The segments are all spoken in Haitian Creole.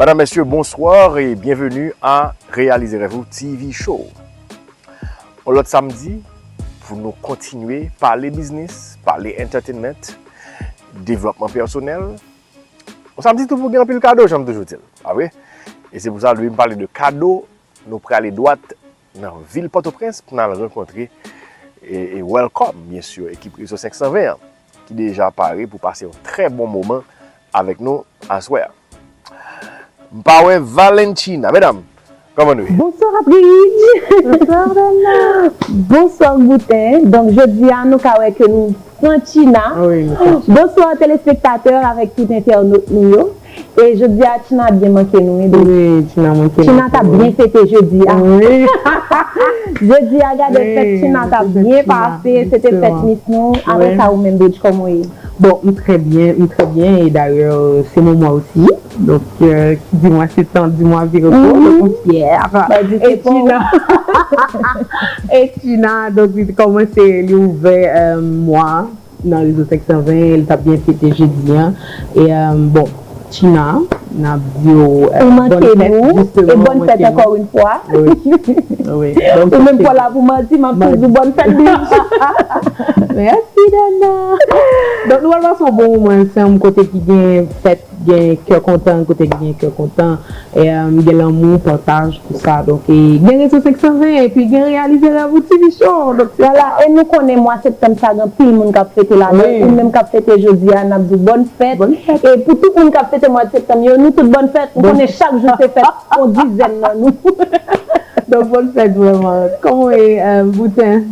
Madame, Messieurs, bonsoir et bienvenue à Réaliser Rêve ou TV Show. On lot samedi pou nou kontinye pale biznis, pale entertainment, devlopman personel. On samedi tou pou gen anpil kado janm toujou di l, pa vre? E se pou sa depi m pale de kado, nou prale dwat nan vil Pòtoprens pou n al rankontre e welcome bien sûr ekip Rezo 520 an. ki deja pare pou pase yon trè bon moman avèk nou aswè a. M pa wè Valentina. Medam, kòman nou ye? Bonswa Bridj! Bonswa Bèna! Bonswa Gouten! Donk jodi a nou ka wè ke nou pran China. Wi, nou pran China. Bonswa telespektatè avèk tout entènot nou yo. E jodi a Tina byen manke nou wi baby. Wi Tina manke nou tou. Tina tap byen fete jodi a. Wi. Jodi a gade fèt Tina tap byen pase se te fèt miss nou aprè sa ou menm Bridge kòman ou ye? Bon m trè byen m trè byen e dayè se mon mwa osi donk ki di mwa septan di mwa virigo donk m fyè e Tina e Tina donk li kòmanse li ouvè mwa. Nan rezo 520 li tap gen fete jedi an e bon Tina nap diw bòn fèt jisteman ou manke nou ankò yn fwa ou menm kòw la pou manti map tou diw bòn fèt bicha mèsi Dana donk nou pral pase yon bon moman ansanm kote ki gen fèt Gen kè kontan kote ki gen kè kontan, gen lanmou, pataj, tout sa donk e gen rezo 520 epi gen reyalize rèv ou TV show donk se sa. E nou konnen mwa septanm sa gen anpil moun kap fete ladan l ou menm kap fete jodi a nap di w bòn fèt e pou tout moun kap fete mwad septanm yo nou tout bòn fèt m konnen chak jou se fèt pou yon dizèn nan nou donk bòn fèt vrèman kòman w ye Boutin.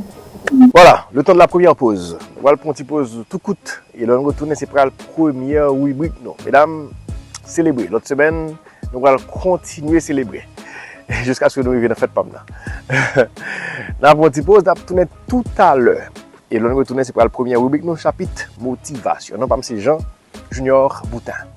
Voilà, le temps de la première pause. Wal pran yon ti poz tou kout. E lè nou retounen se pral premyè ribrik nou. Medam, selebre. Lòt semèn, nou pral kontinye selebre. Jiskaske nou rive nan fèt pa m nan. N ap pran ti poz, n ap tounen toutalè. E lè nou retounen se pral premyè ribrik nou, chapit motivasyon. Non pa m se Jean Junior Boutin.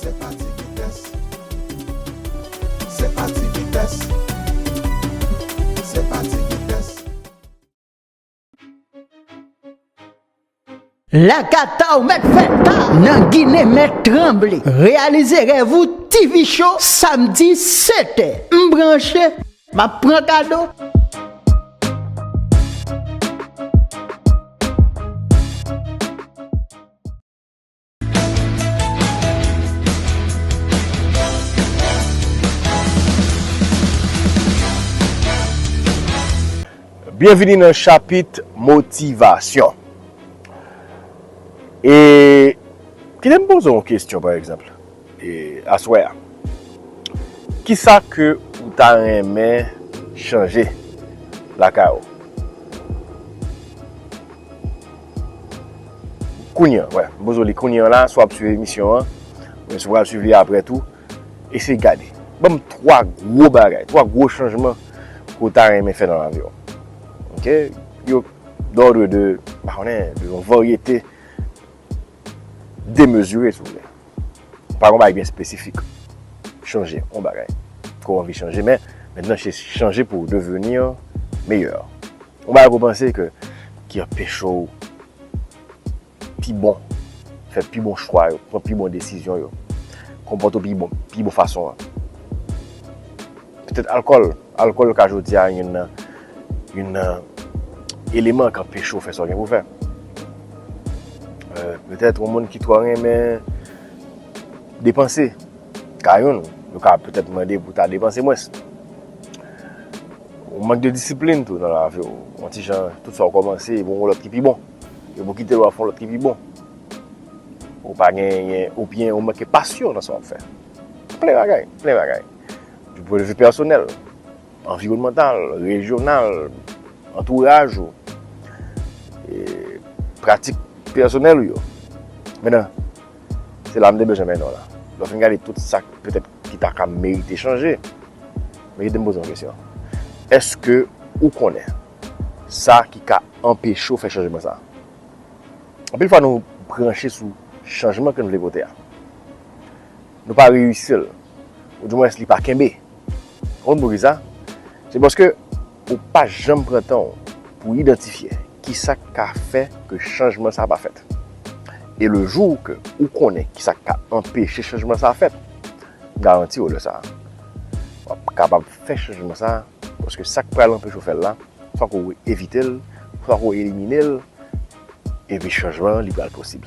Se pa ti vitès. Se pa ti vitès. Se pa ti vitès. Lakata ou mèt fè ta nan Ginen mèt tranble. Reyalize rèv ou TV show samdi 7 è. M branche. Map pran kado. Byenvini nan chapit motivasyon. E, kite m poze w yon kesyon pa egzanp. Aswè a. Kisa ke ou ta renmen chanje lakay ou? Kounye an, wè. Bozo li kounye an la, swa ap swiv emisyon an, men swa ap swiv li apre tou. Eseye gade. Ban m 3 gwo bagay, 3 gwo chanjman ke ou ta renmen fè nan lavi ou. Ok? Yo dòdre de, m pa konnen, de yon varyete. demezire si w vle. Pa gen yon bagay byen espesifik. Chanje yon bagay ke w anvi chanje men nan se chanje pou w deveni meyè. Yon bagay ke w panse ke ki anpeche w pi bon, fè pi bon chwa yo, pran pi bon desizyon yo, konpòte w pi bon fason an. Petèt alkòl, alkòl ka jodi a youn nan, youn nan eleman k anpeche w fè sa w gen pou w fè. Petèt yon moun ki twò renmen depanse, ka youn, yo ka petèt mande pou w ta depanse mwens. Yon mank de disiplin tou nan lavi w, yon ti jan tout sa w kòmanse e pou yon lòt ki pi bon, e pou w kite l w ap fè yon lòt ki pi bon. Ou pa genyen oubyen ou manke pasyon nan sa w ap fè. Plen bagay, plen bagay. Du pwen de vi pèsonèl, anviwònmantal, rejyonal, antouraj ou, pratik pèsonèl ou yo. Mennen, se la m te bezwen mennen w la. Lè w fin gade tout sa k petèt ki ta ka merite chanje, men kite m poze w yon kesyon. Èske ou konnen sa ki ka anpeche w fè chanjman sa a? Anpil fwa nou branche sou chanjman ke n vle pote a. Nou pa reyisi l. Ou di mwens li pa kenbe. Ou konn pou ki sa? Se paske ou pa janm pran tan w pou idantifye ki sa k ka fè ke chanjman sa a pa fèt. E le jou ke ou konnen ki sa k ka anpeche chanjman sa a fèt, m garanti w lè sa a, w ap kapab fè chanjman sa a paske sa k pral anpeche w fè l la, fòk ou evite l, fòk ou elimine l, epi chanjman an li pral posib.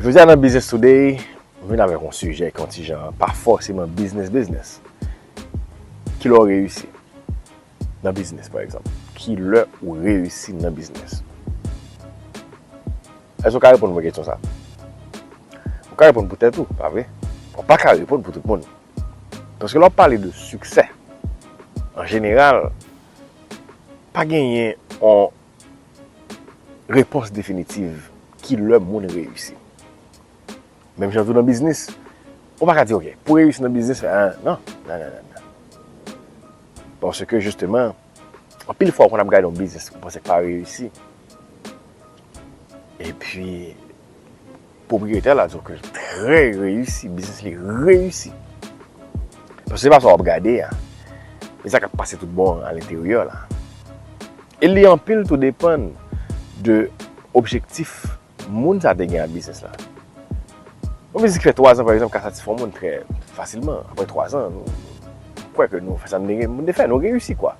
Jodi a nan Business Today, m vin avèk yon sijè ki yon ti jan pa fòseman biznis biznis. Ki lè w reyisi nan biznis pa egzanp? Ki lè ou reyisi nan biznis? Èske ou ka reponn mwen kesyon sa? Ou ka reponn pou tèt ou, pa vre? Ou pa ka reponn pou tout moun. Paske lè w ap pale de siksè, an jeneral, pa genyen yon. repons definitiv ki lè moun reyisi. Menm jan tou nan biznis, ou pa ka di ok, pou reyisi nan biznis, nan, nan, nan, nan, nan. Paske jisteman, anpil fwa ou konn ap gade yon biznis ou panse k pa reyisi, epi, Pwopriyetè la di w ke l trè reyisi, biznis li reyisi. Paske se pa sa w ap gade a, men sa k ap pase tout bon a lenteryè la. E li anpil tou depann de objektif moun sa te gen ak biznis la. Yon biznis ki fè 3 zan pa egzanp ka satisfè yon moun trè fasilman. Aprè 3 zan, nou kwè ke nou fè sa nou te gen pou nou te fè. Nou reyisi kwa.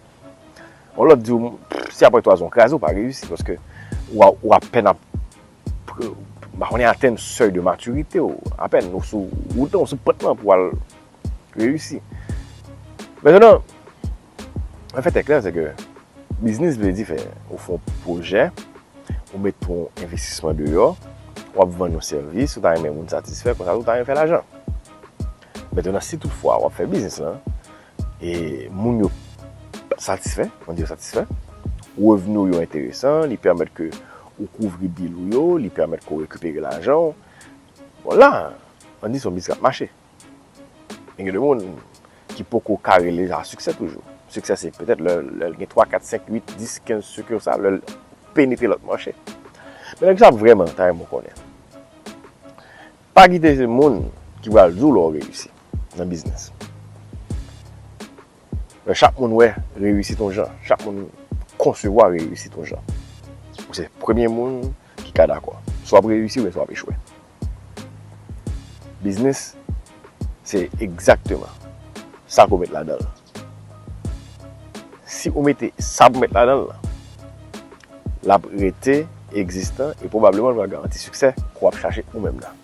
Yon lòt di w, si aprè 3 zan ou kraze, ou pa reyisi. Paske ou apèn ap m pa konnen atenn sèy de matirite w, apèn ou sou wout lan, ou sou pant lan pou w al reyisi. Mètènan, lè fèt e klè se ke biznis vle di fè ou fè yon pwojè, ou met yon envestisman deyò, w ap vann yon sèvis, ou ta renmen moun satisfè, konsa tou ou ta renmen fè lajan. Mètènan, si tout fwa w ap fè biznis lan, E moun yo satisfè, on di yo satisfè. Revni ou yo enteresan, li pèmèt ke ou kouvri bil ou yo, li pèmèt ke ou rekipere lajan ou. Bon la, an di se yon biznis k ap mache. Men gen de moun ki poko ka rele sa siksè toujou. Siksè se petèt lè l gen 3, 4, 5, 8, 10, 15 sikisal, lè l penetre lòt mache. Men nèg sa ap vrèman ta renmen w konnen. Pa kite se moun ki pral di w lè w reyisi nan biznis. Lè chak moun wè reyisit yon jan, chak moun konsevwa reyisit yon jan, ou se premye moun ki ka dakò. Si w ap reyisi oubyen si w ap echwe. Biznis se egzakteman sa ke w met ladan l. Si ou mete sa pou mèt ladan l lan, l ap rete egzistan e pwobableman l pral garanti siksè ke w ap chache ou menm nan.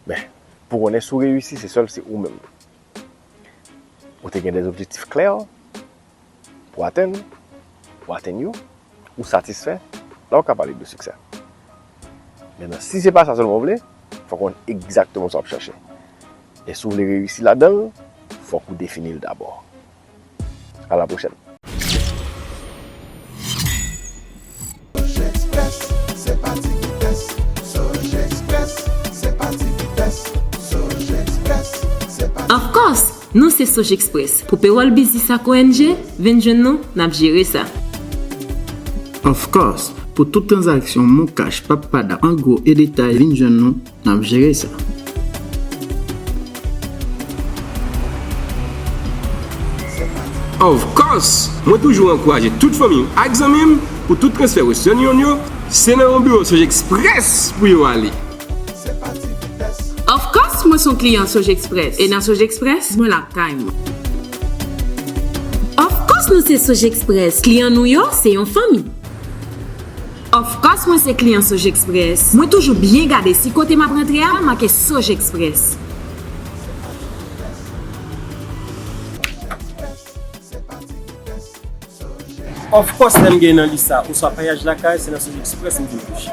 Men, pou w konnen si w reyisi, se sèl si ou menm ou te gen dè objektif klè Pou atenn pou atenn yo, ou satisfè, la ou ka pale de siksè. Mennan si se pa sa sèlman ou vle, fòk ou konn egzakteman sa w ap chache. E si w vle reyisi ladan l, fòk ou defini l dabò. A la pwochèn! Of course! Nou se Sojexpress! Pou pewòl biznis ak ong, vin jwenn nou, n ap jere sa. Of course! Pou tout tranzaksyon Moncash, PapPada, an gwo e detay, vin jwenn nou. Nap jere sa. Of course! Mwen toujou ankouraje tout fanmi m ak zanmi m pou tout transfè Western Union yo, se nan yon biwo Sogexpress pou yo ale. Of course mwen son kliyan Sogexpress e nan Sogexpress mwen la kay mwen. Of course nou se Sogexpress, kliyan nou yo se yon fanmi. Ofkòs mwen se kliyan Sogexpress, mwen toujou byen gade si kote map rantre a make Sogexpress. Ofkòs lèm gen nan Lisa oswa Payaj Lakay se nan Sogexpress m vin touche.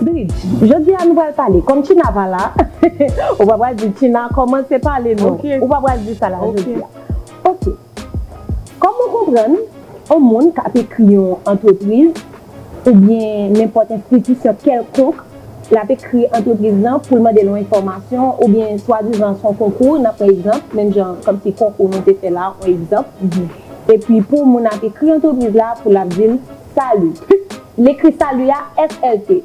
Bridge, jodi a nou pral pale kòm China pa la, ou pa pral di China kòmanse pale non, ou pa pral di sa la jodi a. Ok, kòm ou konprann, yon moun kap ekri yon antrepriz oubyen nenpòt enstitisyon kèlkonk, lap ekri antrepriz lan poul mandel yon enfòmasyon oubyen swadizan son konkou, nan pran egzanp, menm jan kòmsi konkou nou te fè la, yon egzanp. Epi pou moun ap ekri antrepriz la pou lap di l Salut. Humm. L ekri salut a SLT.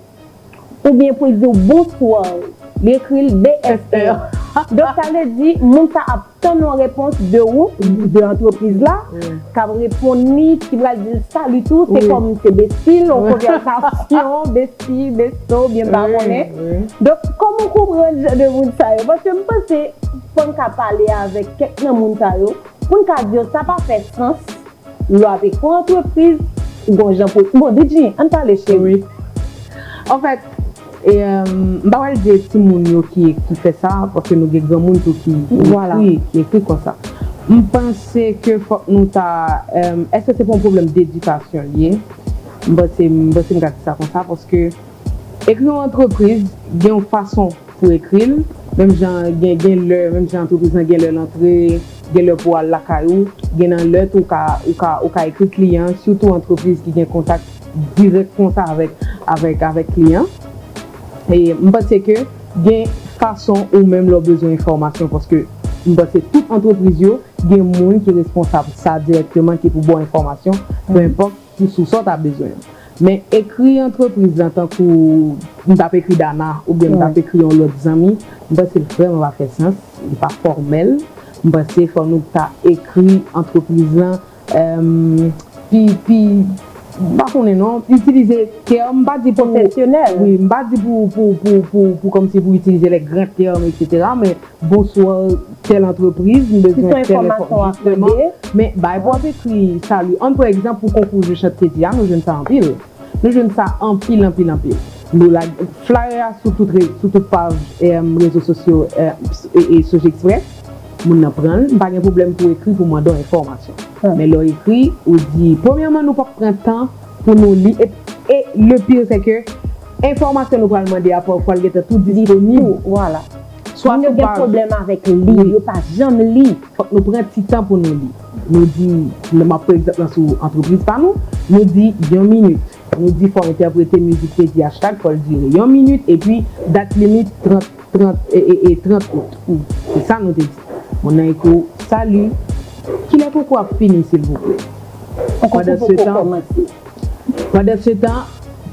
Oubyen pou l di w Bonsoir. Li ekri l BSR. Donk sa vle di moun sa ap tann yon repons de ou, de antrepriz la, kap reponn li, ki pral di l Salut tou, se kòm se besti l, yon konvèsasyon, besti, besto, oubyen m pa konnen. Donk kòman w konprann jan de moun sa yo? Paske m panse fò n ka pale avèk kèk nan moun sa yo. Pou n ka di yo sa pa fè sans lwa te fon antrepriz gon jan pou bon Didji ann pale cheri. Wi anfèt m pa pral di e ti moun yo ki fè sa paske nou gen gran moun tou ki ekri ki ekri konsa m panse ke fòk nou ta èske se pa yon pwoblèm dedikasyon li ye m panse m panse m ka di sa konsa paske. Ekri yon antrepriz gen yon fason pou ekri l, menm jan gen gen lè menm jan antrepriz lan gen lè l antre, gen lè pou al lakay ou, gen nan lè tou ou ka ou ka ekri kliyan sitou antrepriz ki gen kontak dirèk konsa avèk avèk avèk kliyan. E m panse ke gen fason ou menm lè w bezwen enfòmasyon paske m panse tout antrepriz yo gen moun ki responsab sa dirèkteman ki pou ba w enfòmasyon penenpòt Ti sous sa w ta bezwen yo. Men ekri antrepriz lan tankou m t ap ekri Dana oubyen m t ap ekri yon lòt zanmi, m panse l vrèman pa fè sans, li pa fòmèl. M panse fò nou ta ekri antrepriz lan pi, pi, m pa konnen non, itilize tèm, m pa di pou, wi, m pa di pou, pou, pou, pou, pou kòmsi pou itilize lè gran tèm, eksetera, men. Bonsoir tel entreprise m bezwen tel enfòmasyon jisteman men bay pou ap ekri salut ann pran egzanp pou konkou jou chat tedi a nou jwenn sa anpil nou jwenn sa anpil anpil anpil nou lage flyer a sou tout sou tout paj rezo sosyo e sojexpress moun nan pran l m pa gen pwoblèm pou ekri pou mande w enfòmasyon men lè w ekri ou di premyèman nou pap pran tan pou nou li e le pire sè ke enfòmasyon nou pral mande a pafwa l gentan tou disponib. Moun yo gen pwoblèm avèk li, yo pa janm li. Fòk nou pran ti tan pou nou li. Nou di, m ap pran egzanp lan sou antrepriz pa nou, nou di yon minit. Nou di fò w entèprete mizik te di hashtag fò l dire yon minit epi dat limit 30 30 out. Se sa nou te di. Moun nan ekri w, Salut, kilè konkou ap fini silvouplè? Pandansetan. Pandansetan,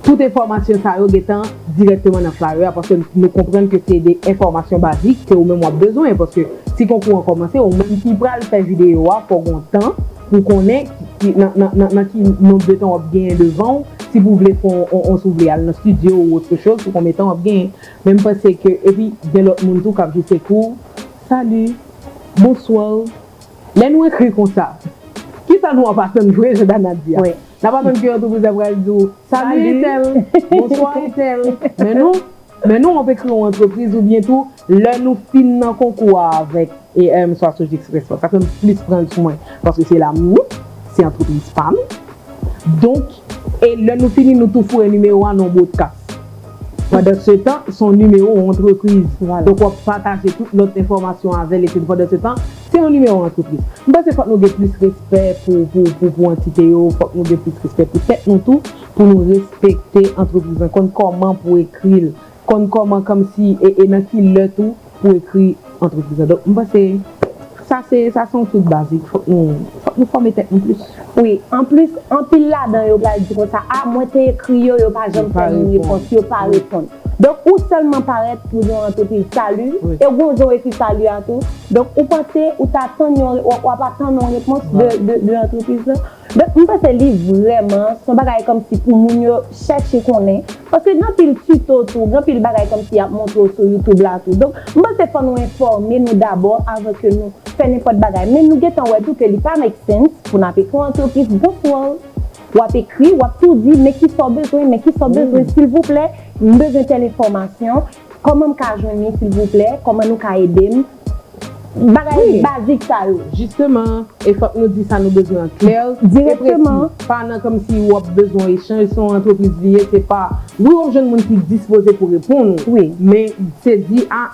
tout enfòmasyon sa yo gentan dirèkteman nan flyer a paske nou konprann ke se de enfòmasyon bazik ke ou menm wap bezwen paske si konkou an kòmanse ou menm ki pral fè videyo a fòw gon tan pou konnen nan ki nomb de tan wap genyen devanw si pou vle fon on si ou vle al nan studio ou otre choz sou konbyen tan wap genyen men m panse ke epi gen lòt moun tou kap jwe sekouw Salut Bonsoir. Lè nou ekri konsa, ki sa nou ap atann vre jan Dana di a? N ap atann ke antrepriz la pral di w Salut Etèl, Bonswa Etèl. Men nou, men nou ap ekri yon antrepriz oubyen tou lè nou fin nan konkou a avèk EM swa Sojeks Respa. Sa fè m plis pran sou mwen paske se la m ye, se antrepriz pa m. Donk, e lè nou fini nou tou foure nimewo a nan yon bwodkas. Pandansetan, se yon nimewo yon antrepriz. Donk w ap pataje tout lòt enfòmasyon avè l epi pandansetan, Se yon nimewo antrepriz. M panse fòk nou gen plis respè pou pou pou antite yo, fòk nou gen plis respè pou tèt nou tou, pou nou respekte antrepriz lan, konn kòman pou ekri l, konn kòman kòmsi e e nan ki lè tou pou ekri antrepriz lan. Donk m panse sa se sa se yon twouk bazik, fòk nou fòk nou fòme tèt nou plis. Wi, anplis anpil ladan yo pral di konsa, a mwen te ekri yo, yo pa janm fè m repons, yo pa reponn. Donk ou sèlman parèt pou yon antrepriz sali e ou gon jan w ekri sali a tou. Donk ou panse ou ta tann yon, w ap atann yon repons de antrepriz lan. Donk m panse li vrèman s on bagay kòmsi pou moun yo chèche konnen. Paske gen anpil tito tou, gen anpil bagay kòmsi y ap montre w sou YouTube la tou. Donk m panse fò nou enfòme nou dabò avan ke nou fè nenpòt bagay. Men nou gentan wè tou ke li pa make sense pou n ap ekri yon antrepriz bon pou w. Wap ekri, wap tou di men kisa w bezwen, men kisa w bezwen silvouplè, m bezwen tèl enfòmasyon, kòman m ka jwenn li silvouplè, kòman nou ka ede m, bagay bazik sa yo. Jisteman, e fòk nou di sa nou bezwen an klè e presi, pa nan kòmsi ou ap bezwen yon echanj, se yon antrepriz li ye, se pa, wi wap jwenn moun ki dispoze pou reponn ou, men se di a,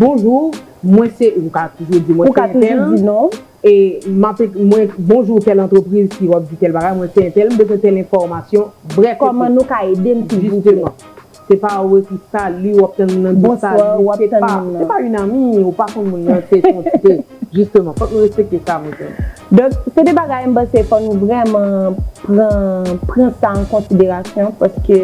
bonjou, mwen se, ou ka toujou di mwen se entèl, E map mwen bonjour tel antrepriz ki wap di tel bagay mwen se entèl m bezwen tel enfòmasyon brèf epi Kòman nou ka ede m silvouplè. Jisteman. Se pa ou ekri salut wap tann moun nan di salut se pa se pa yn ami ou pa konn moun nan se son se jisteman fòk nou respekte sa mwen kwè. Donk se 2 bagay m panse fò nou vrèman pran pran sa an konsiderasyon paske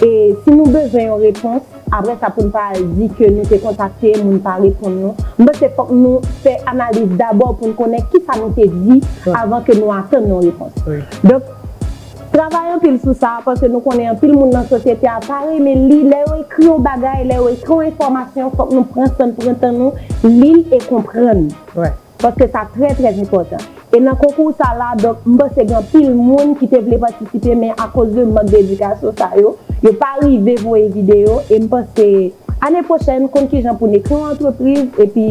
e si nou bezwen yon repons Aprè sa poun pa al di ke nou te kontakte moun pa reponn nou. M panse fòk nou fè analiz dabò poun konnen kisa nou te di avan ke nou atann yon repons. Donk travay anpil sou sa paske nou konnen anpil moun nan sosyete a pa renmen li lè yo ekri yon bagay, lè yo ekri yon enfòmasyon fòk nou pran sann pran tan nou lil e konprann. Paske sa trè trè enpòtan. E nan konkou sa la donk m panse gen anpil moun ki te vle patisipe men akoz de mank de edikasyon sa yo, yo pa rive voye videyo e m panse ane pwochèn konn kijan pou n ekri yon antrepriz epi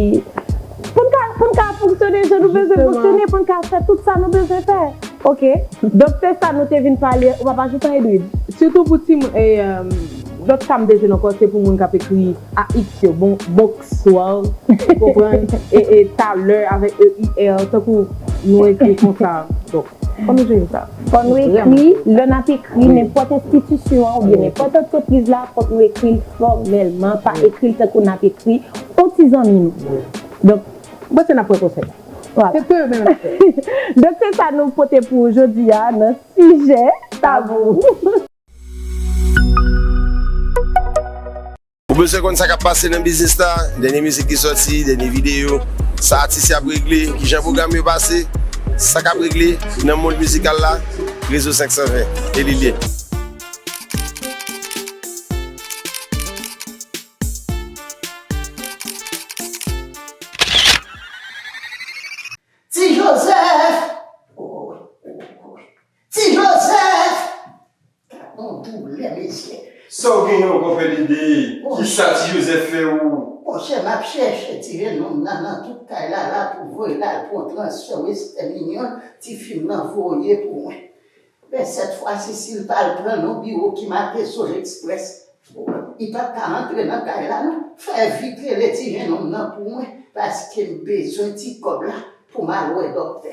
pou n ka pou n ka fonksyone jan nou bezwen fonksyone pou n ka fè tout sa nou bezwen fè ok donk se sa nou te vin pale ou pa pa ajoutan Edwid? Sitou pou timoun e. Dot sa m te jwenn anko se pou moun kap ekri AX yo bon Bonxsoir ou konprann e e talè avèk EUR tankou nou ekri konsa donk fò nou jwenn sa. Fò nou ekri lè nap ekri nenpòt enstitisyon an oubyen nenpòt antrepriz la fòk nou ekri l fòmèlman pa ekri l tankou nap ekri on ti zanmi nou donk m panse nap pran konsèy la. Vwala. Donk se sa nou pote pou jodi a nan sijè tabou. Ou bezwen konn sa kap pase nan biznis la, dènye mizik ki sòti, dènye videyo, sa atis yo ap regle, kijan pwogram yo pase, sa kap regle nan mond mizikal la, Rezo 520, e li lye. Ti Joseph! Ti Joseph kap bon doulè mesye. Saw gen yon kò fè dede. Kisa ti Joseph fè ou. Monchè map chèche tire nonm nan nan tout kay lala pou voy lal pwan transfè westè minyòn ti fim nan voye pou mwen men sèt fwasi sil tal pran non biwo ki make zone express li pap ka antre nan kay la non fè vit rele ti jenonm nan pou mwen paskem bezwen ti kòb la poum al wè dòktè.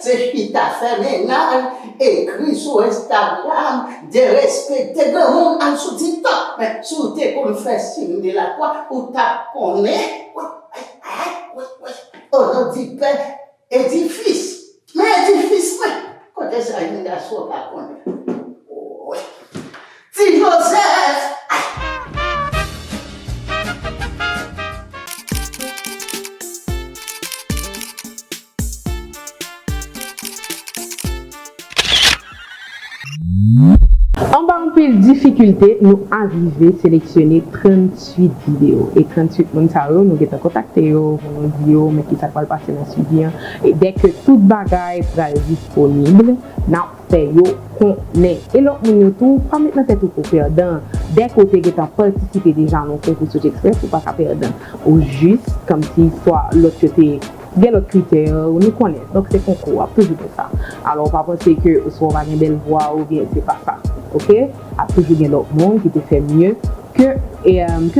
Se chita fè mennaj, ekri sou Instagram, derespekte granmoun al sou tiktok men si w te konn fè siy de la kwa ou tap konnen wi Ono di pè e di fis men e di fis mwen kote sa jèn gason pa konnen wi. Ti joseph ahh. Anba anpil difikilte, nou arive seleksyone 38 videyo. E 38 moun sa yo, nou gentan kontakte yo pou nou di yo men kisa k pral pase nan swivi an. E dèke tout bagay pral disponib, n ap. fè yo konnen. E lòt moun yo tou, pa met nan tèt ou ke w pèdan, dèke w te gentan patisipe deja nan yon konkou sot eksprès, ou pa ka pèdan. Ou jis kòmsi swa lòt yo te gen lòt kritè, nou konnen, donk se konkou, w ap toujou gen sa. Alò w pa panse ke swa w pa gen bèl vwa oubyen se pa sa, oke? Ap toujou gen lòt moun ki te fè mye ke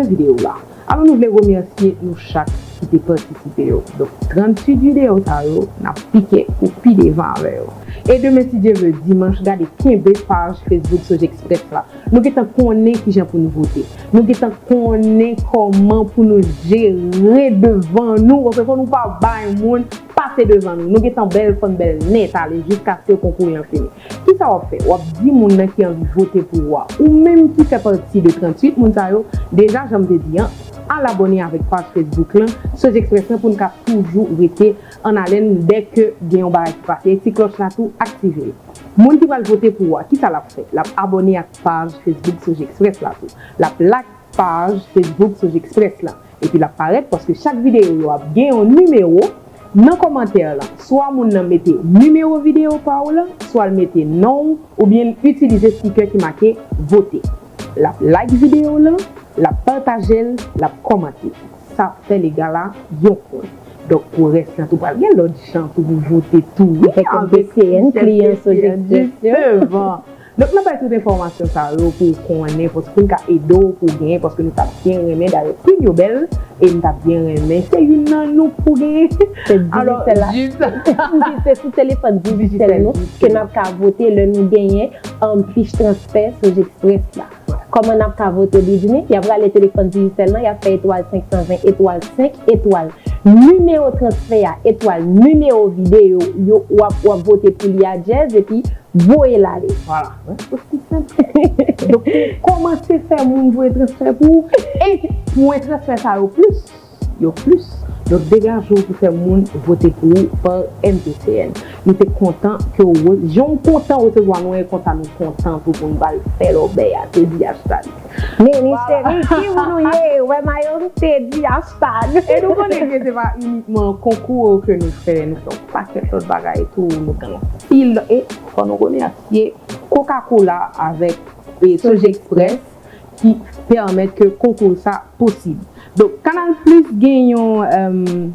videyo w la. Alò nou vle remèsye nou chak ki te patisipe yo. Donk 38 videyo sa yo n ap pike pou pi devan avè yo. E demen si Dye vle dimanch gade kenbe paj Facebook Sojexpress la. Nou gentan konnen kijan pou nou vote. Nou gentan konnen kòman pou nou jere devan nou paske fò nou pa bay moun pase devan nou. Nou gentan bèl fò n bèl nèt ale jiskaske konkou yan fini. Kisa wap fè? Wap di moun nan ki anvi vote pou ou a, ou menm ki fè pati de 38 moun sa yo, deja janm te di an, al abòne avèk paj Facebook lan Sojexpress lan poun ka toujou rete an alèn dè ke gen yon bagay ki pase, ti klòch la tou aktive l. Moun ki pral vote pou ou a, kisa lap fè? Lap abòne ak paj Facebook Sojexpress la tou. Lap lak. Paj Facebook Soj Express la epi l ap parèt paske chak videyo yo ap gen yon nimewo Nan kòmantè lan swa moun nan mete nimewo videyo pa w la swa l mete non w oubyen l itilize stikè ki make vote L ap like videyo w lan l ap pataje l l ap kòmante Sa ap fè lega la yon pwen Donk pou rès lan tou pral gen lòt jan tou pou vote tou wi avèk sistèm Soj Express yo. Donk nap bay tout enfòmasyon sa yo pou ou konnen paske poun ka ede w pou w genyen paske nou tap byen renmen dayè prim yo bèl e m tap byen renmen se youn nan nou k pou genyen alò jis se sou telefòn digicel nou ke nap ka vote lè nou genyen anplis transfè soj express la. Kòman nap ka vote Britney? Yap rale telefòn Digicel lan yap fè etwal 520 etwal 5 etwal nimewo transfè a etwal nimewo videyo yo wap wap vote pou li a Jazz epi voye l ale vwala mwen osi senp ke sa donk kòmanse fè moun voye transfè pou ou e pwen transfè sa yo plis. yo plis. Donk degaje w pou fè moun vote pou ou par MPCN. Nou te kontan ke w re, jan w kontan resevwa nou e konsa nou kontan tou pou n ba l fè lòbèy a, te di Ashtag. Men men cheri, ki moun ou ye? Ou wè mayo m? te di Ashtag. E nou konnen ke se pa inikman konkou yo ke nou fè, nou fè yon pakèt lòt bagay tou, nou gen anpil, e fò nou remèsye Koka Kola avèk Sojekspres. ki pèmèt ke konkou sa posib. Donk Kanal Plis gen yon,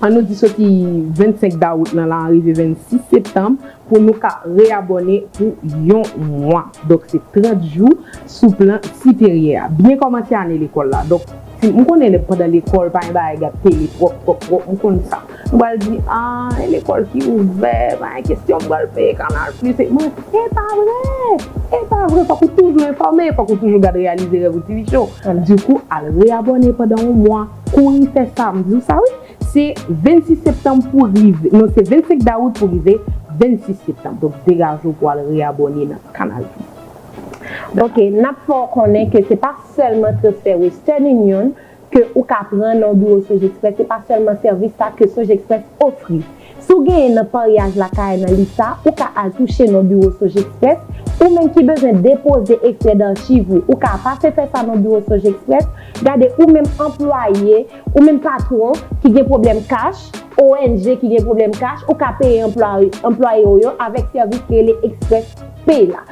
an nou di soti 25 dawout nan la a rive 26 septanm pou nou ka reyabòne pou yon mwa. Donk se 30 jou sou plan siperyè a. Byen kòmanse ane lekòl la. Donk. M konnen lè pandan lekòl pa gen bagay gad tele twòp twòp twòp m konn sa. Nou pral di ah e lekòl ki ouvè pa gen kesyon m pral peye kanal plis e mwen e pa vre e pa vre fòk ou toujou enfòme fòk ou toujou gad reyalize rèv ou ti bichon dikou al re abòne pandan yon mwa kouri fè sa m di w sa wi se 26 septanm pou rive non se 25 dawout pou rive 26 septanm donk degaje w pou al re abòne nan kanal plis. Ok, nap fè w konnen ke se pa sèlman transfè Western Union ke ou ka pran nan yon biwo Sojexpress, se pa sèlman sèvis sa ke Sojexpress ofri. Si w genyen nan paryaj lakay nan lis sa, ou ka al touche nan biwo Sojexpress. Ou menm ki bezwen depoze ekstrè darchiv ou, ou ka pase fè sa nan biwo Sojexpress. Gade ou menm anplwaye, ou menm patwon ki gen pwoblèm kach, ONG ki gen pwoblèm kach, ou ka peye anplwaye w yo avèk sèvis ki rele Express Pay la.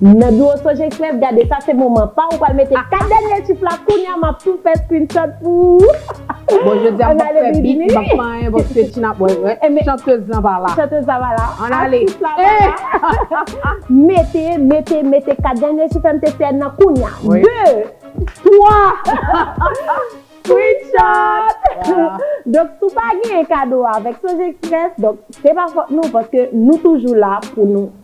Nan biwo sonje Express gade sa se moman paw ou pral mete 4 dènye chif la kounya map tou fè screenshot pou ou Bon jodi a mpap fè beat mpap fè anyen bon se Tina bon chanteuse lan pa la Chanteuse la pa la Ann ale Atis la pa la Mete mete mete 4 dènye chif MTCN nan kounya 2 3 Screenshot Donk si w pa genyen kado avèk sonje Express donk se pa fòt nou paske nou toujou la pou nou.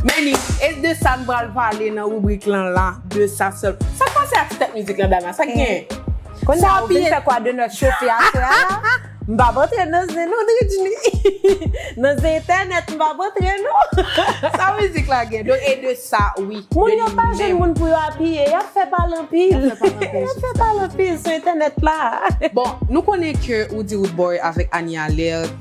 Meni, e de sa n pral pale nan ribrik lan la? De sa sèl. Sa k pase ak ti tèt mizik lan Dana? Sa k gen? Konnya ou vin fè kwa de nòt chofe aswè a la? M p ap antre nan zen non Dridjni. Nan zen entènèt m p ap antre non. Sa mizik la gen? Donk e de sa wi. Moun yo pa jwenn moun pou yo apiye. Y ap fè pale anpil. Y ap fè pale anpil sou entènèt la. Bon, nou konnen ke ou di Roodboy avèk Annie Alerte.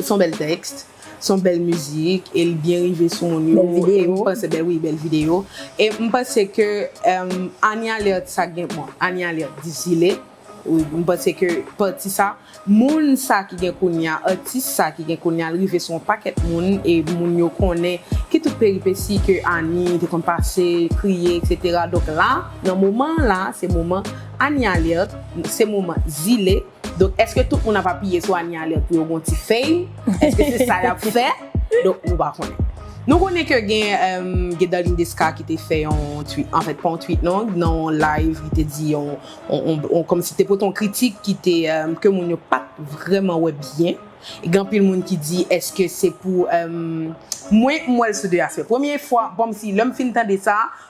Son bèl tèks, son bèl mizik e li byen rive sou moun yo e m panse bèl wi bèl videyo e m panse ke Annie Alerte sa gen bon Annie Alerte di zile wi m panse ke pati sa moun sa ki gen kounya atis sa ki gen kounya l rive sou yon pakèt moun e moun yo konnen ki tout peripesi ke Annie te konn pase kriye eksetera donk la nan moman an la se moman Annie Alerte se moman zile. Donk eske tout moun ap apiye sou Anie Alerte pou yo gon ti fame? Eske se sa yap fè? Donk nou pa konnen. Nou konnen ke gen Gedaline Desca ki te fè yon tweet, anfèt pa yon tweet non, nan yon live li te di yon, kòm si te pote yon kritik ki te, ke moun yo pat vrèman wè byen. Gen anpil moun ki di eske se pou, mwen m wèl sou 2 aspè. Premye fwa, kòm si lèm fin tande sa,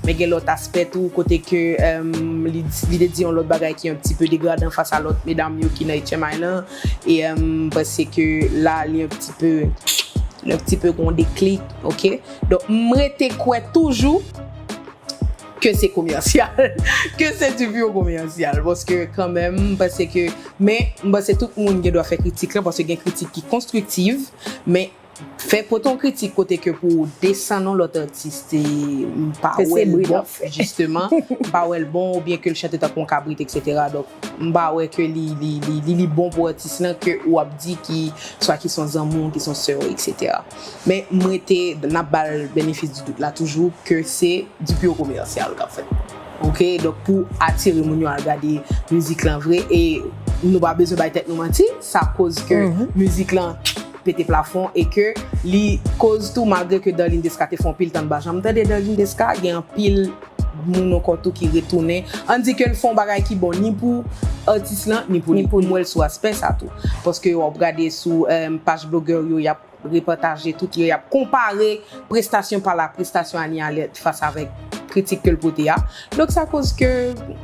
Men gen lòt aspè tou kote ke li te di yon lòt bagay ki yon ti peu degradan fas a lòt medam yo ki nan HMI lan. E m panse ke la li yon ti peu, yon ti peu gen yon deklik, ok. Donk m rete kwè toujou ke se komèsyal, ke se du pur komèsyal. Paske kan menm m panse ke, men m panse tout moun gen dwa fè kritik lan paske gen kritik ki konstriktiv. Men. Fè pote yon kritik kote ke pou ou desann yon lòt atis se m pa wè l bon jisteman, m pa wè l bon oubyen ke l chante tankou yon kabrit eksetera donk m pa wè ke li li li bon pou atis lan ke ou ap di ki swa ki son zanmi w ki son sè w eksetera. Men m rete n ap ba l benefis di dout la toujou ke se dpi yo komèsyal k ap fèt ok donk pou atire moun yo al gade mizik lan vre e nou pa bezwen bay tèt nou manti sa koz ke mizik lan pete plafon e ke li koz tou malgre ke Darline Desca te fè yon pil tan li pa janm tande Darline Desca gen yon pil moun ankò tou ki retounen an di ke l fè yon bagay ki bon ni pou atis lan ni pou li m wè l sou aspè sa tou paske wap gade sou paj blogè yo yap repataje tout yo yap konpare prestasyon pa l ak prestasyon Annie Alerte fas avèk kritik ke l pote a. Donk sa koz ke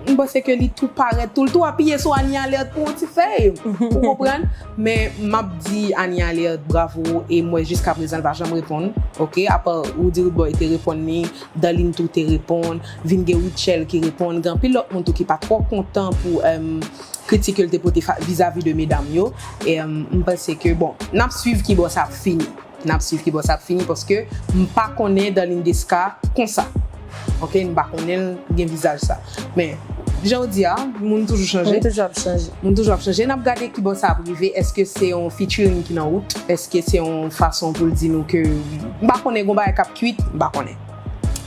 m panse ke li tou parèt tou, li tou apiye sou Anie Alerte pou yon ti fèy, ou konprann? Men m ap di Anie Alerte bravo e m wè jiskaprezan l pa janm reponn, ok, apa Roody Rude-Boy te reponn li, Darline tou te reponn, vin gen Rutshelle ki reponn, gen anpil lòt moun tou ki pa twò kontan pou kritik ke l te pote vizavi de medam yo, m panse ke bon, n ap swiv kibò sa ap fini. Nap swiv kibò sa ap fini paske m pa konnen Darline Desca konsa ok m pa konnen l gen vizaj sa men jan ou di a moun toujou chanje Moun toujou ap chanje. moun toujou ap chanje nap gade kibò sa ap rive eske se yon featuring ki nan wout eske se yon fason pou l di nou ke m pa konnen gon bagay kap kwit m pa konnen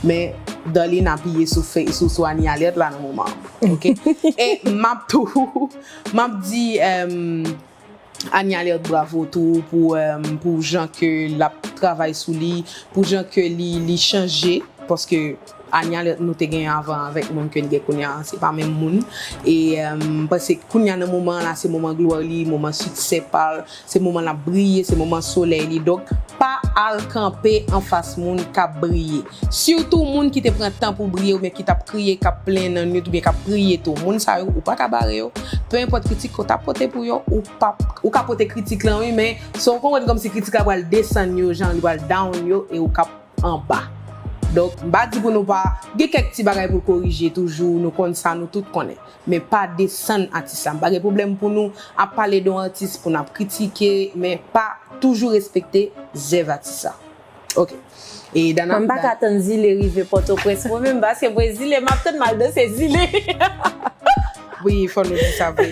men Darline apiye sou fè sou sou Anie Alerte la nan moman an ok e map tou map di. Anie Alerte bravo tou pou pou jan ke lap travay sou li pou jan ke li li chanje paske Anie Alerte nou te gen avan avèk moun ke n gen kounya se pa menm moun e m panse kounya nan moman la se moman glwa li moman siksè pa l se moman lap briye se moman solèy li donk pa al kanpe anfas moun kap briye Surtout moun ki te pran tan pou briye oubyen ki tap kriye kap plenyen nan nwit oubyen kap priye tou moun sa yo ou paka bare yo peu enpòt kritik ke w ta pote pou yo ou pap ou ka pote kritik lan wi men se w konprann kòmsi kritik la pral desann yo jan li pral down yo e ou kap anba donk m pa di pou nou pa gen kèk ti bagay pou l korije toujou nou konn sa nou tout konnen men pa desann atis la m pa gen pwoblèm pou nou ap pale de yon atis pou nap kritike men pa toujou respekte zèv atis la. Ok e dana mwen paka tann zile rive potoprens mwen menm paske mwen zile map tann mal danse zile wi fò nou di sa vre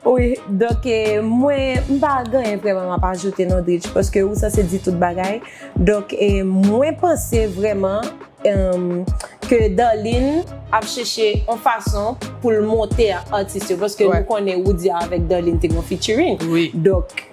wi donk e mwen mpa gen anyen vreman map ajoute non dritch paske ou sanse di tout bagay donk e mwen panse vreman emm ke darline ap cheche yon fason poul monte ak atis yo paske nou konnen roody avèk darline te gen yon featuring donk.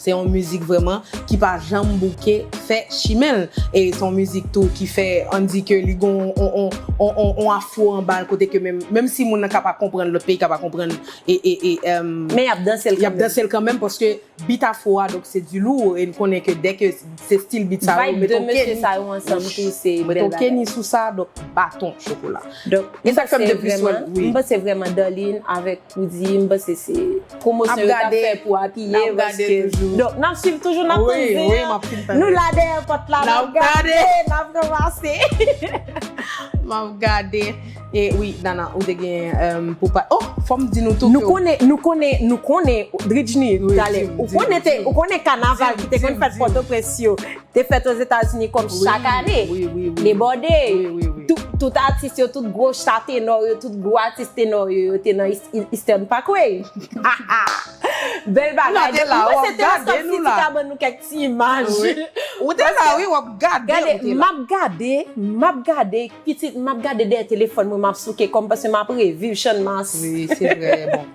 Se yon mizik vrèman ki pa janm bouke fè chimen l. E se yon mizik tou ki fè an di ke li gen yon afro anba l kote ke menm si moun nan ka pa konprann, lòt peyi ka pa konprann. Men y ap danse l kanmenm. Y ap danse l kanmenm paske bit afro a donk se du lourd e n konnen ke dè ke se stil bit sa yo mete yon kenny. Vibe 2 mesye sa yo ansanm tou se bèl bagay. Mete yon kenny sou sa donk baton chokola. Donk m panse vrèman Darline avèk. Pou di, m panse se pwomosyon yo tap fè pou apiye paske. Donk nap swiv toujou nap tann di yo. Nou la dèyè pòt la nap gade, nap ranmase. Map gade. E wi Dana ou te gen pou pa oh fòm di nou tou. Nou konnen, nou konnen, nou konnen Dridjni talè. Ou konnen te, ou konnen kanaval ki te konn fèt pòtoprens yo Te fèt Ozetazini kòm chak ane. Debòde. Tout atis yo, tout gwo cha tenò yo, tout gwo atis tenò yo, yo te nan Eastern Parkway. Bèl bagay. Mwen se te la sòt si ti ka ban nou kèk ti imaj. Ou te la wi, w ap gade. Gade, m ap gade, m ap gade, pitit, m ap gade dèyè telefòn mwen, m ap souke kò m paske m ap reviv channmas. Wi, se vrèman.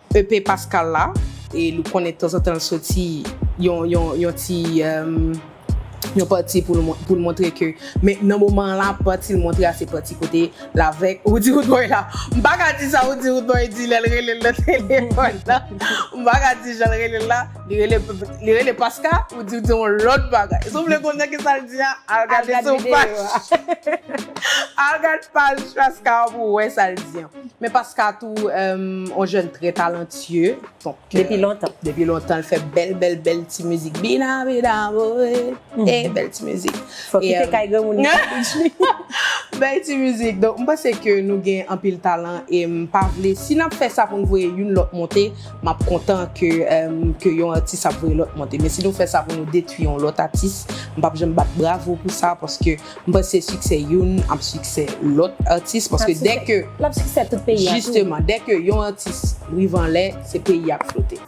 EP Pascal la e nou konnen tanzantan l soti yon ti yon pati pou l montre ke men nan moman an la pati l montre a se pati kote l avèk Roody Roodboy la m pa ka di sa Roody Roodboy di lè l rele l nan telefòn nan m pa ka di jan l rele l la li rele Paska Roody di yon lòt bagay si w vle konnen ki sa l di a al gade sou paj al gad paj Paska pou w wè sa l di an. Men paska tou on jèn trè talantye. Depi lontan. Depi lontan l fè bèl bèl bèl ti mizik. Bina bina woy. E bèl ti mizik. Fò kite kay granmoun li pa bidj li. Bèl ti mizik. Donk m panse ke nou gen anpil talan e m pa vle si nap fè sa pou n voye youn lòt monte map kontan ke yon atis ap voye lòt monte. Men si nou fè sa pou nou detwi yon lòt atis m pap janm bat bravo pou sa paske M panse siksè youn ap siksè lòt atis paske dè ke jisteman dè ke yon atis rive anlè se peyi a k flote.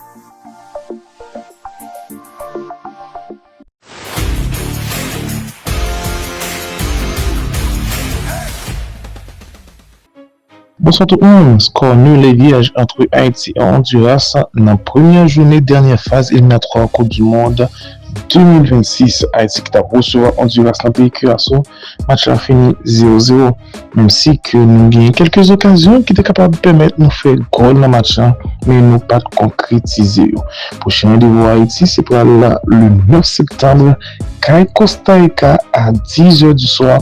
Bonswa tout moun! Skò nul e vyèj antre Ayiti an Ondiras nan premyè joune dènyè faz eliminatwa koup du mond 2026. Ayiti ki tap resevwa Ondiras nan peyi Kiraso, match la fini 0 0. Menm si ke nou genyen kèlke zokazyon ki te kapab pèmèt nou fè gòl nan match la, men nou pat konkretize yo. Pwochen randevou Ayiti se pral le 9 septanbre kay Kostarika a 10 è du swa.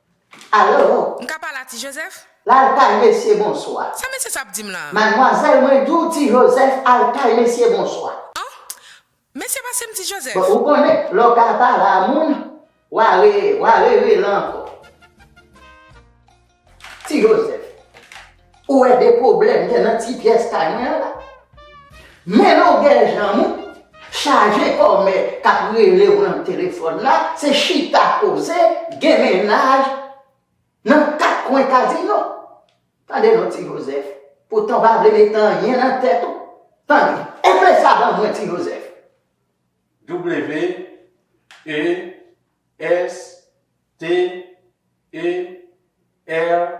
Alo! M ka pale a Ti Jozèf? Laltay mesye bonswa. Sa mesye sa ap di m la? Madmwazèl mwen di w Ti Jozèf Altay mesye bonswa. An! Mesye pase m Ti Jozèf. Bon ou konnen lè w ka pale a moun wa re wa re rele ankò. Ti Jozèf. Ou wè de pwoblèm gen nan ti pyès kay mwen an la? Men longè janm ou, chaje kòmè k ap rele w nan telefòn la, se chita koze, gen mennaj nan kat kwen kazino. Tande non Ti Jozèf, poutan w pa vle mete anyen nan tèt ou, tande, epe sa ban mwen Ti Jozèf. WESTER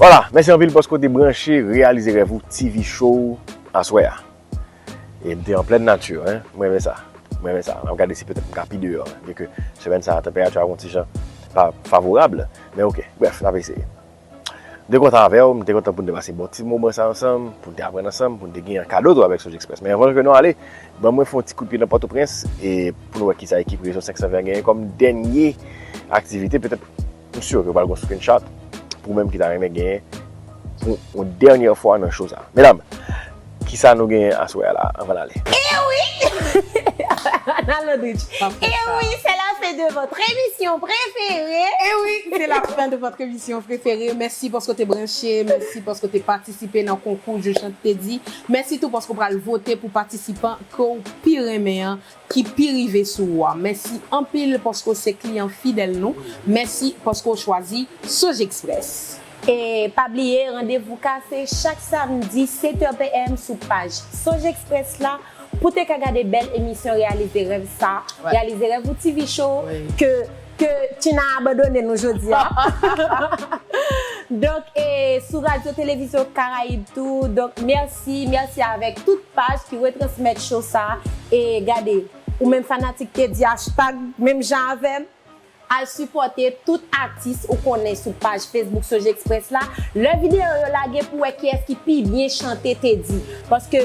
Voila, mèsi anpil paske w te branche Reyalize Rèv ou TV Show aswè a. E m te an plèn nati, hein. M renmen sa. M renmen sa. M ap gade si petèt m ka pi deyò, byen ke semèn sa a tanperati a ap yon ti jan pa favorab. Men ok, brèf, n ap eseye. M te kontan avè w, m te kontan pou n te pase bon ti moman sa ansanm, pou n te aprann ansanm, pou n te gen yon kado tou avèk Sojexpress. Men anvan ke nou ale, ban mwen fè yon ti kout pye nan Pòtoprens e pou nou wè kisa ekip Rezo 520 an genyen kòm dènye aktivite petèt. M sur ke pral gon screenshot pou ou menm ki ta renmen genyen pou yon dènyè fwa nan show sa. Medam, kisa nou genyen aswè a la a anvan n ale? Ewi! Nan Londrich. Ewi, se la fen de votre emisyon prefere! Ewi, se la fen de votre emisyon prefere! Mèsi paske w te branche, mèsi paske w te patisipe nan konkou Joujante te di, mèsi tou paske w pral vote pou patisipan ke w pi renmen an ki pi rive sou ou a. Mèsi anpil paske w se kliyan fidèl nou. Mèsi paske w chwazi Sojexpress. E pa bliye randevou ka se chak samdi 7 è PM sou paj Sojexpress la pou te ka gade bèl emisyon Reyalize Rèv sa, Reyalize Rèv ou TV Show ke Ke Tina abandone nou jodi a. Donk e sou Radyo Televizyon Karayib tou. Donk mèsi, mèsi avèk tout paj ki retransmèt show sa. E gade, ou menm fanatik te di hashtag menm jan avè m. Al sipòte tout atis ou konnen sou paj Facebook Sojexpress la. Lè videyo yo lage pou wè kiyès ki pi byen chante te di. Paske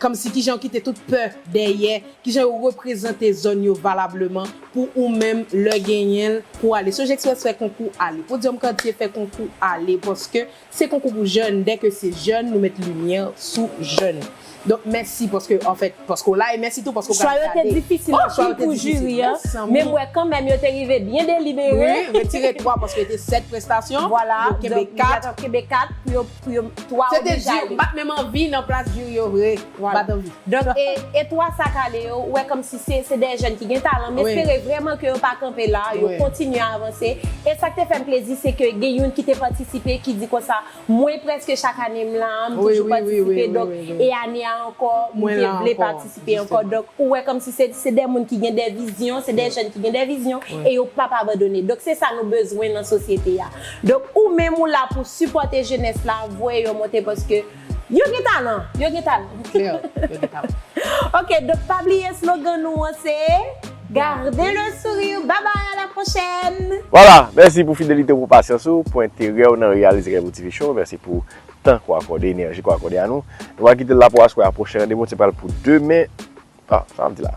Kòmsi kijan yo kite tout pè dèyè, kijan yo reprezante zòn yo valableman pou ou menm lè genyen l pou ale. Sojekspres fè konkou ale. Podyòm Kantye fè konkou ale paske se konkou pou jèn, dè ke se jèn nou met limyè sou jèn. Donk mèsi paske anfèt paske w la e mèsi tou paske w pral gade. Chwa yo te difisil anpil pou jiri an, men m wè kanmenm yo te rive byen delibere. Wi, retire 3 paske te 7 prestasyon, yo kenbe 4. pou yo twa Se te oblije di, ale. bat menm anvi nan plas di yo vre. Voilà. Bat anvi. Donk e e twa sa k ale yo, ou wè kòmsi se se de jèn ki gen talan. M Wi. espere vrèman ke yo pa kanpe la, yo Wi. kontinye avanse. E sa k te fè m plezi se ke gen youn ki te patisipe ki di konsa, mwen prèske chak ane m la a, m Wi, toujou wi, wi, wi, patisipe, wi, donk wi, wi. e ane a ankò m Mwen te la vle ankò, patisipe ankò. jistement. Donk ou wè kòmsi se se de moun ki gen de vizyon, se de Wi. jèn ki gen de vizyon Wi. e yo p ap abandone. Donk se sa nou bezwen nan sosyete a. Donk ou menm ou la pou sipòte jenès la, voye yo monte paske yo gen talan, yo gen talan. Li klè, yo gen talan. Ok, donk pa bliye slogan nou an se, Garder le sourire, bye bye à la prochaine! Voilà, mèsi pou fidelite ou, pou pasyans ou, pou enterè ou nan reyalize Kay Pou TV Show, mèsi pou tan ke w akòde, enèji ke w akòde a nou. Nou va kite l la pou aswè a, pwochen randevou nou se pral pou demen, ah sa m di la?